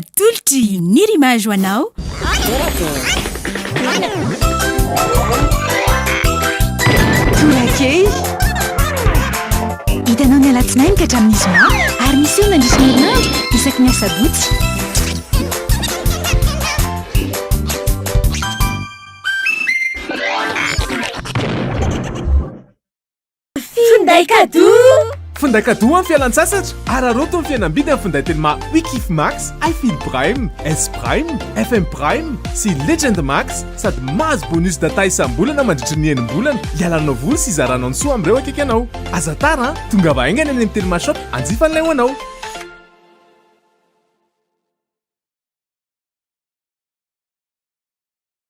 Atolotry ny Rimage ho anao. Torakely. Hitanao ny alatsinainy ka hatramin'ny zoma ary miseho mandritra ny herinandro isaky ny asabotsy. Finday kadoa! Finday kadoa amin'ny fialan-tsasatra! Araraoty ny fihenam-bidy amin'ny finday teny maha Wikif Max, iFeel Prime, S Prime, FM Prime sy Legend Max sady mahazo bonus data isam-bolana mandritry ny enim-bolana hialanao voly sy hizaranao ny soa amin'ireo akaiky anao. Aza tara an! Tongava haingana eny amin'ny Telma Shop hanjifan'ilay ho anao!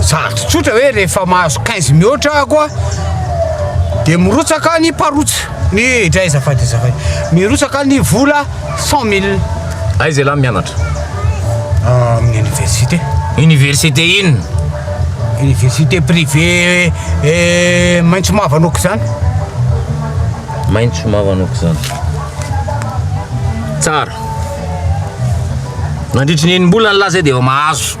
Zato tsotra hoe rehefa mahazo 15 mihoatra ako a dia mirotsaka ny parotsa ny dray azafady azafady mirotsaka ny vola 100 mille Aiza ialahy mianatra? amin'ny université Université inona? université privé eh, maitso mavo anoko izany Maitso mavo anoko izany Tsara Nandritry ny enim-bola ny lahy izay dia efa mahazo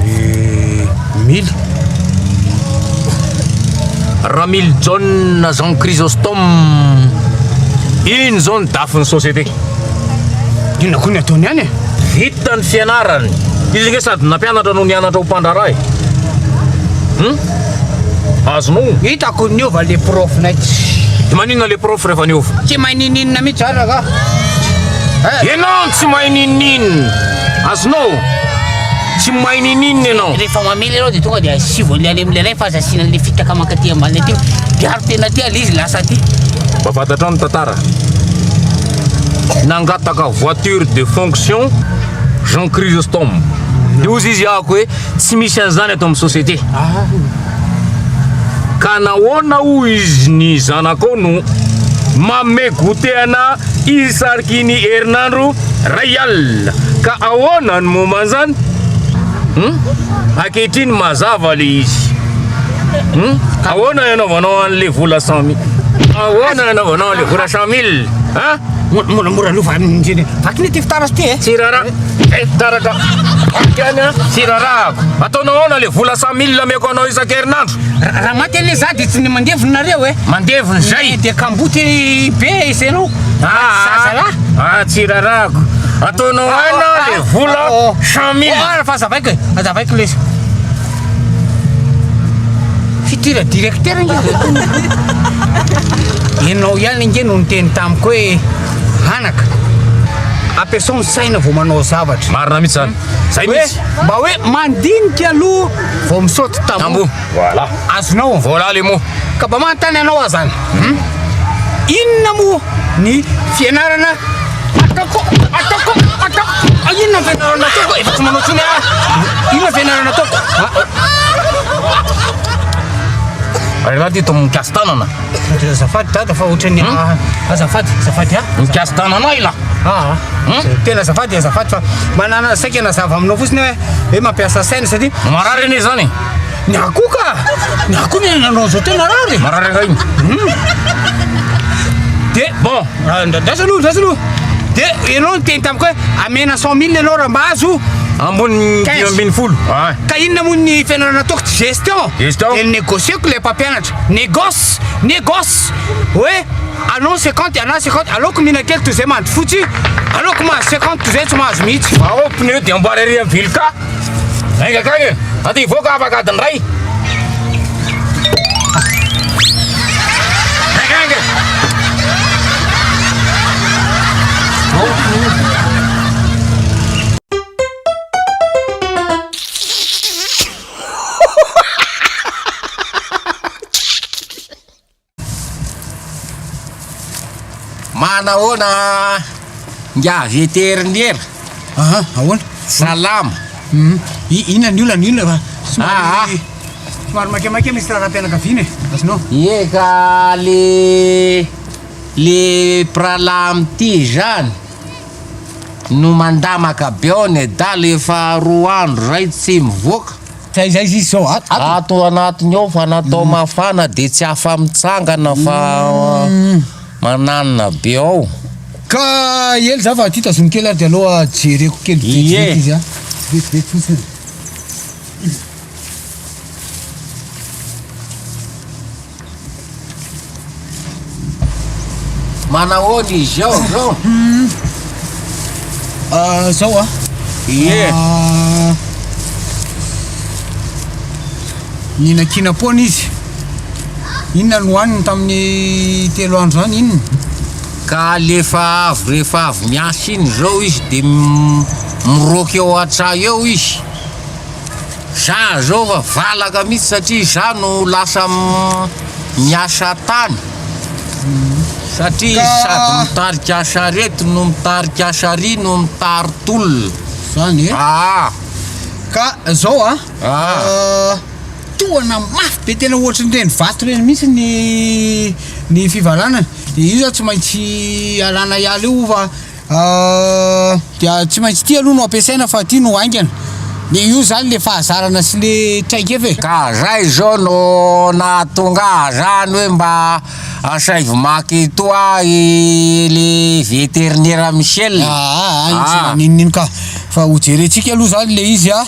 Eh, mila. Ramily John Jean Chrysostome iny zao ny dafy ny société inona koa ny ataony any e vita ny fianarany izy nge sady nampianatra no nianatra ho mpandraharaha e hmm? azonao hitako niova le prof nay tsy maninona le prof rehefa niova tsy mahay nininona mihitsy araka eh? enao tsy mahay nininona Azonao? Tsy mahay nininina ianao. Rehefa mamely ianao dia tonga dia asivo an'ilay any amin'ilay fa aza asiana an'ilay fitaka mankaty ambany aty. Diaro tena aty ilay izy lasa aty. Mba fantatrao ny tantara. Nangataka voiture de fonction Jean Chrysostome. Dia hozy izy ahako hoe tsy misy an'izany ato amin'ny société. Ah. Ka nahoana hoy izy ny zanakao no manome goûter anà isariky ny herinandro iray alina? Ka ahoana ny momba an'izany? Hum? Ankehitriny mazava le izy. Hum? Ahoana ny anaovanao an'le vola cent mille? Ahoana ny anaovanao an'le vola cent mille? An? Moramora lova indrindra. Vaky ny ty fitaratra ty e. Tsy rara. Eh, fitaratra. Vaky any an. Tsy rarahako. Ataonao aona le vola cent mille ameko anao isan-kerinandro. Raha maty anie za dia tsy ny mandevony nareo e. Mandevony zay. Dia kamboty be isanao. Zazalahy. Ah, tsy rarahako. Ataonao aona le vola cent mille. Fa zavaiko e. Zavaiko lesy. Futur directeur nge zay tony hoe enao ihany nge no niteny tamiko hoe anaka ampiasao ny saina vao manao zavatra. Marina mihitsy zany. Zay mihitsy. Mba hoe mandinika aloha vao misaoty tamboho. Voilà. Azonao. Voilà les mots. Ka mba manontany anao aho zany, inona moa ny fianarana ataoko, ataoko, ataoko, inona ny fianarana ataoko efa tsy manao tsony aho, inona ny fianarana ataoko? Raha dito mikasy tanana. Azafady dada fa ohatran'ny azafady, azafady ah. Mikasy tanana ila. Ah, tena azafady, azafady fa manana saika nazava aminao fotsiny hoe hoe mampiasa saina satria. Marary anie zany. Ny ahy koa ka! Ny ahy koa ny nanao an'izao tena rare e! Marary angaha iny? Hum! Dia bon, ah, ndra- ndraso aloha, ndraso aloha. Dia ianao niteny tamiko hoe amena cent mille ianao raha mba azo. Ambony Quinze. dimy ambin'ny folo. Ah. Ka inona moa ny fianarana nataoko tsy gestion? Gestion. Dia négocier-ko ilay mpampianatra. Négoce, négoce. Hoe anao 50 ianao 50, aleoko mihinan-kely toy izay mandry fotsy, aleoko mahazo 50 toy izay tsy mahazo mihitsy. Ao pneu dia amboary ery amin'ny vilika. Enga kagny, aty hivoaka afaka adiny iray. Enga enga. Manahoana nga veterinera? Aha, ahoana? Salama. Hum, inona ny olana, inona fa Ah, ah. somary somary maikamaika misy raharaham-pianakaviana e. Azonao? Ie ka le le pralam ty zany no mandamaka be ao nedala efa roa andro zay tsy mivoaka. Ato anatiny ao fa natao mafana dia tsy afa mitsangana fa mananina be ao. Ka ela za fa ty tazomiko kely ary de aloha jereko kely vitsivitsy izy an. Vitsivitsy fotsiny. Manahoana izy ao zao? Ah, zao ah. Ie. Ah, Ninakina poana izy. Inona no hohaniny tamin'ny telo andro zany inona? Ka alefa avy rehefa avy miasa iny zao izy de m- miroaka eo an-tsaha eo izy. Za zao fa valaka mihitsy satria za no lasa miasa tany satria izy sady mitarika charette no mitarika charrie no mitary tolona zany e aa ka zao a tohana mafy be tena ohatrin'ireny vato ireny mihitsy ny ny fivalanana de io zany tsy maintsy alana hiala io fa Dia tsy maintsy ity aloha no ampiasaina fa ity no haingana. Le io zany le fahazarana sy le traikefa e. Ka zay izao no nahatonga ahy zany hoe mba asaivo maka eto ahy le veterinera Michel a. Aa iny tsy maninona iny ka. Fa ho jerentsika aloha zany le izy a.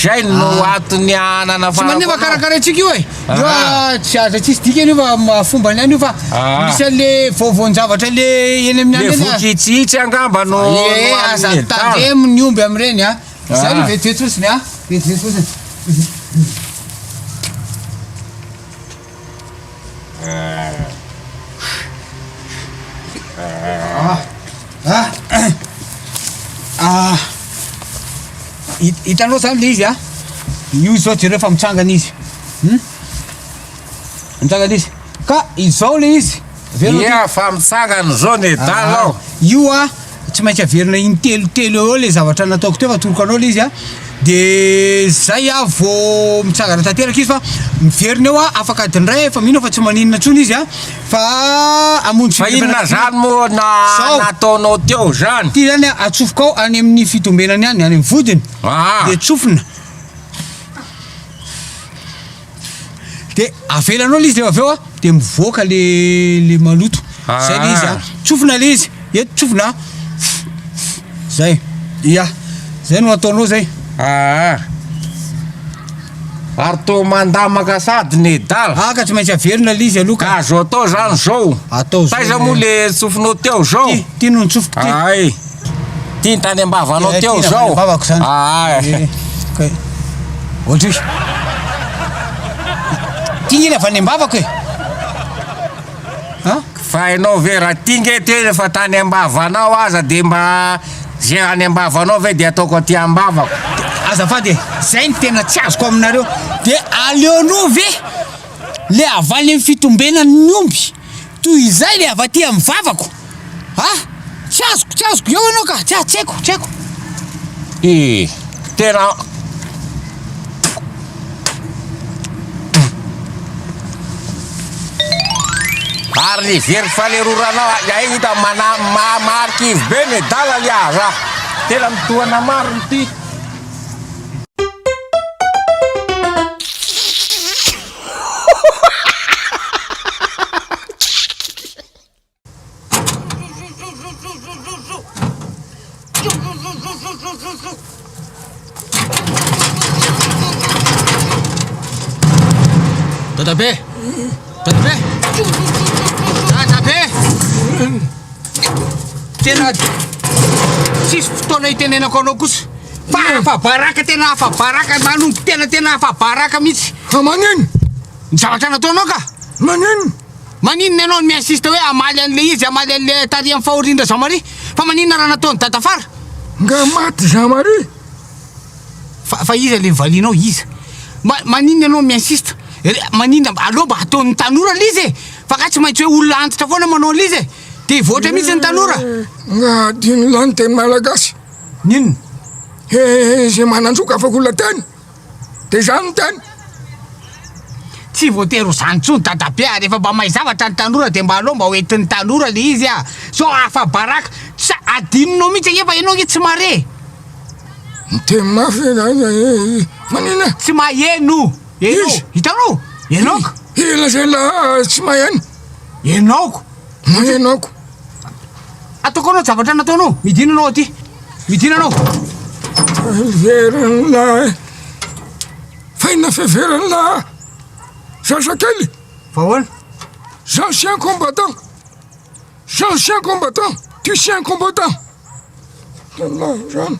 Zay no antony nanafarako anao. Tsy maninona fa karakaraintsika io e. Io ah, tsy aza tsisy dikany io fa ma- fomba ny any io fa Ah. misy an'le vaovaon-javatra le eny amin'ny Le any eny ah. vokitsitsy angamba no no Ee, amin'ny aza heritage. tandremo ny omby amin'ireny a. Izay no Ah. vetivety fotsiny a. Vetivety fotsiny. Ah. Ah! Hitanao zany le izy a? Io izao jereo fa mitsangana izy. Hmm? Mitsangana izy. Ka izao le izy. Ia fa mitsangana izao ny edala ao. Io a tsy maintsy averina intelo telo eo le zavatra nataoko teo fa toroko anao le izy a. De zay a vao mitsangana tanteraka izy fa miverina eo a afaka adiny iray efa mino fa tsy maninona intsony izy a. Fa hamonjy Fa inona fitombenana izany moa na Zao. nataonao teo izany? Ity izany a, atsofoka ao any amin'ny fitombenany any, any amin'ny vodiny. Aa. Dia tsofina. Dia avelanao ilay izy dia avy eo a, dia mivoaka le le maloto. Izay ilay izy a. Ah. Tsofina ilay izy. Eto tsofina a. Zay. Ia. Zay no ataonao zay. Aa. Ary toa mandamaka sady nedala. Ah ka tsy maintsy averina le izy aloha ka. Ka azo atao zany zao. Atao zao. Taiza moa le tsofinao teo zao? Ty, ty no nitsofiko ty. Ay. Ty tany ambavanao eh, teo zao. Ambavako zany. Ah. Eh, kay. Ohatry. Ty ngila avy any ambavako e. Eh. Ha? Fa enao ve ra ty nge teo efa tany ambavanao aza de mba ze any ambavanao ve de ataoko aty ambavako. Azafady e, zay no tena tsy azoko aminareo, de aleonao ve le havaly ny fitombenan ny omby toy izay le avy aty amin'ny vavako a! tsy azoko tsy azoko, eo enao ka, tsy haiko tsy haiko. Ee, tena. Ary ny very faleroranao ay hita mana marikivy be medala lia raha tena mitohana marina ity. Dadabe! Dadabe! Dadabe! Tena tsisy fotoana hitenenako anao kosa fa afa-baraka tena afa-baraka manompo tena tena afa-baraka mihitsy. Fa manin? Ny zavatra nataonao ka? Manin? Maninona ianao no mi-insiste hoe hamaly an'ilay izy, hamaly an'ilay tarihan'ny fahorian-dRazamaria? Fa maninona raha nataon'i Dadafara? Nga maty i Zamaria? Fa, fa iza ilay nivalianao? Iza? Ma, maninona ianao no mi-insiste? Re, maninona, aleo mba ataon'ny tanora ilay izy e! Fa nga tsy maintsy hoe olona antitra foana manao an'ilay izy e! Te hivoatra mihitsy ny tanora! Nga adino lahy ny teny malagasy? N'inona? He, he, he, izay manan-jo ka afaka olona teny! De izany no tena. Tsy voatery ho zany tsony dadabe a, refa mba mahay zavatra ny tanora de mba aleo mba ho entin'ny tanora le izy a, sao afa baraka, sa adinonao mihitsy ange fa enao ange tsy mare. Miteny mafy ve zany zay hoe izy manina? Tsy maheno enao, hitanao? Enao ko. Iza lazainla tsy maheno? Enao ko. Moa ianao ko. Ataoko anao zavatra nataonao. Midina anao aty. Midina anao. Fiveran'ny lahy. Faina fiveran'ny lahy. Sasakely. Vahoana. Ancien combattant. Ancien combattant. Tu es un combattant. Lalahy zany.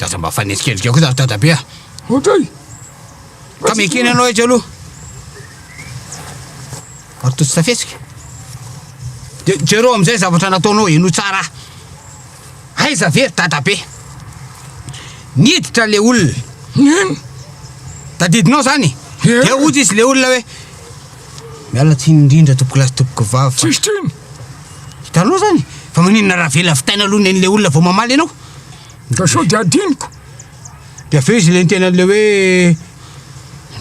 Aza mba fanenjikenjika kosa ry dadabe a! Otray! Ka mekena ianao etsy aloha! Ary toa tsy tafesika? Dia jereo amin'izay zavatra nataonao, henoy tsara aho! Aiza ve ry dadabe? Niditra ilay olona! Nino? Tadidinao izany? Dia hoy izy ilay olona hoe, Miala tsiny indrindra tompokolahy sy tompokovava fa. Tsisy tsiny! Hitanao izany? Fa maninona raha avela vitaina aloha ny an'ilay olona vao mamaly ianao? Ndra sao dia adinoko. Dia avy eo izy nentehina an'ilay hoe,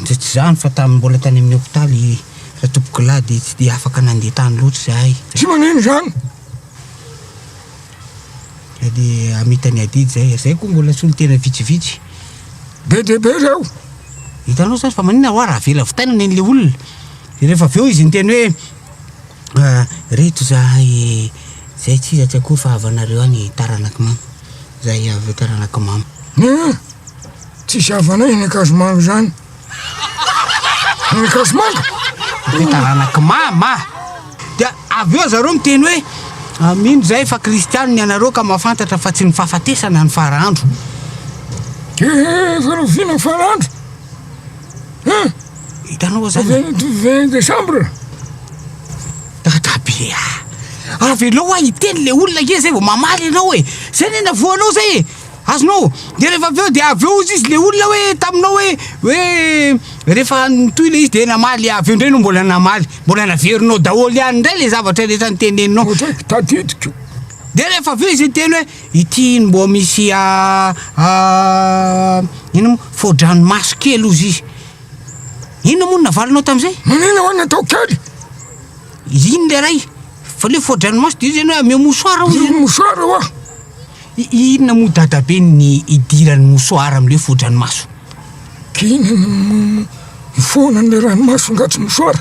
ndra tsy izany fa tamin'ny mbola tany amin'ny hopitaly ratompokolahy dia tsy dia afaka nandeha tany loatra izahay. Tsy manino izany. Dia dia hamita an'i Adidy izahay. Izahay koa mbola solontena vitsivitsy. Be dia be ireo. Hitanao izany fa maninona ho'a raha avela vitaina ny an'ilay olona. Dia rehefa avy eo izy niteny hoe. Reto zahay e! Zay tsy iza tsy akory fa avy anareo any taranak'i mama. Zahay avy eo taranak'i mama. Neny a! Tsisy havanay eny Ankazomanga izany. Eny Ankazomanga? Hoe taranak'i mama. Dia avy eo zareo miteny hoe, mino zahay fa kristiano ny anareo ka mahafantatra fa tsy ny fahafatesana no fara andro. Eehh! Efa rahoviana ny fara andro? Hein? Hitanao zany? Avy any tout 20 décembre. Dadabe a! Ah. Avelao a hiteny le olona nge zay vao mamaly anao e! Zay ny anavoanao zay e! Azonao? De rehefa avy eo de avy eo izy izy le olona hoe taminao hoe hoe rehefa nitohy le izy de namaly avy eo ndray no mbola namaly mbola naverinao daholo ihany ndray le zavatra rehetra niteneninao. Tadidiko. De rehefa avy eo izy niteny hoe Ity mbô misy a a inona moa fodranomaso kely ozy izy inona moa navalinao tamizay Manina ho an'ny atao kely iny le ray fa le fodranomaso de izy zany hoe ameo mosoara ozy Ino mosoara oa I- inona moa dadabe ny idiran'ny mosoara amle fodranomaso K'inona no mifoha an'le ranomaso angatsy mosoara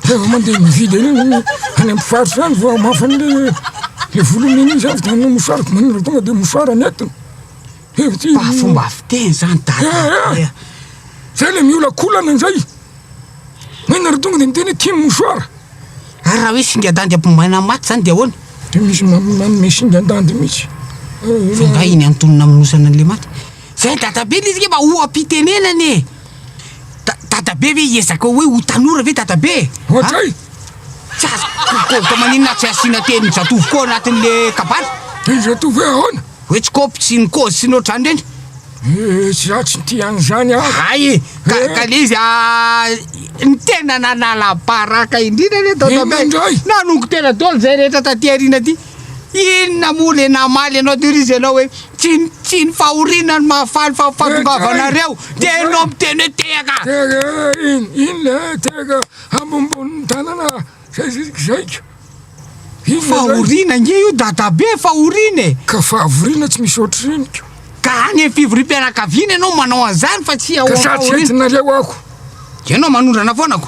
Rehefa mandeha mividy any any am faritra any fa mafa ny le volony iny izy avy tany mosary ko manindra tonga de mosary any atiny efa ty mba fomba fiteny zany dada zay le miolakolana zay manindra tonga de miteny tim mosary ary raha hoe singadandy ampimaina maty zany de ahoana de misy manome singandandy mihitsy fa nga iny antonona amnosana anle maty zay dada be le izy nge mba oha-pitenenana e Dadabe ve hiezaka hoe ho tanora ve dadabe e? Ohatray! Tsy azoko ka maninona tsy asiana tenin'i Jatovo koa anatin'le kabary? Tenin'i Jatovo hoe ahoana? Hoe tsy kôpy tsy ny kôzy sy ny ohatr'izany ireny? Eh, tsy izaho tsy tia an'izany aho. Hay e, ka eh. ka le izy ah, ny tena nanala baraka indrindra le dadabe. Inona indray? Nanongo tena dôly izay rehetra taty aoriana aty. Inona moa le namaly anao tery izy ianao hoe tsy ny tsy ny fahoriana no mahafaly fa ny fahatongavanareo dia ianao miteny hoe tehaka. Tehaka in in le tehaka ambonimbony tanana zay zay zaiko. Inona zay? Fahoriana ange io dadabe fahoriana e. Ka fahavoriana tsy misy ohatr'ireny ko. Ka any amin'ny fivoriam-pianakaviana ianao manao an'izany fa tsy ao Ka amin'ny sa tsy fahoriana. entinareo ako. Ianao manondrana foana ko.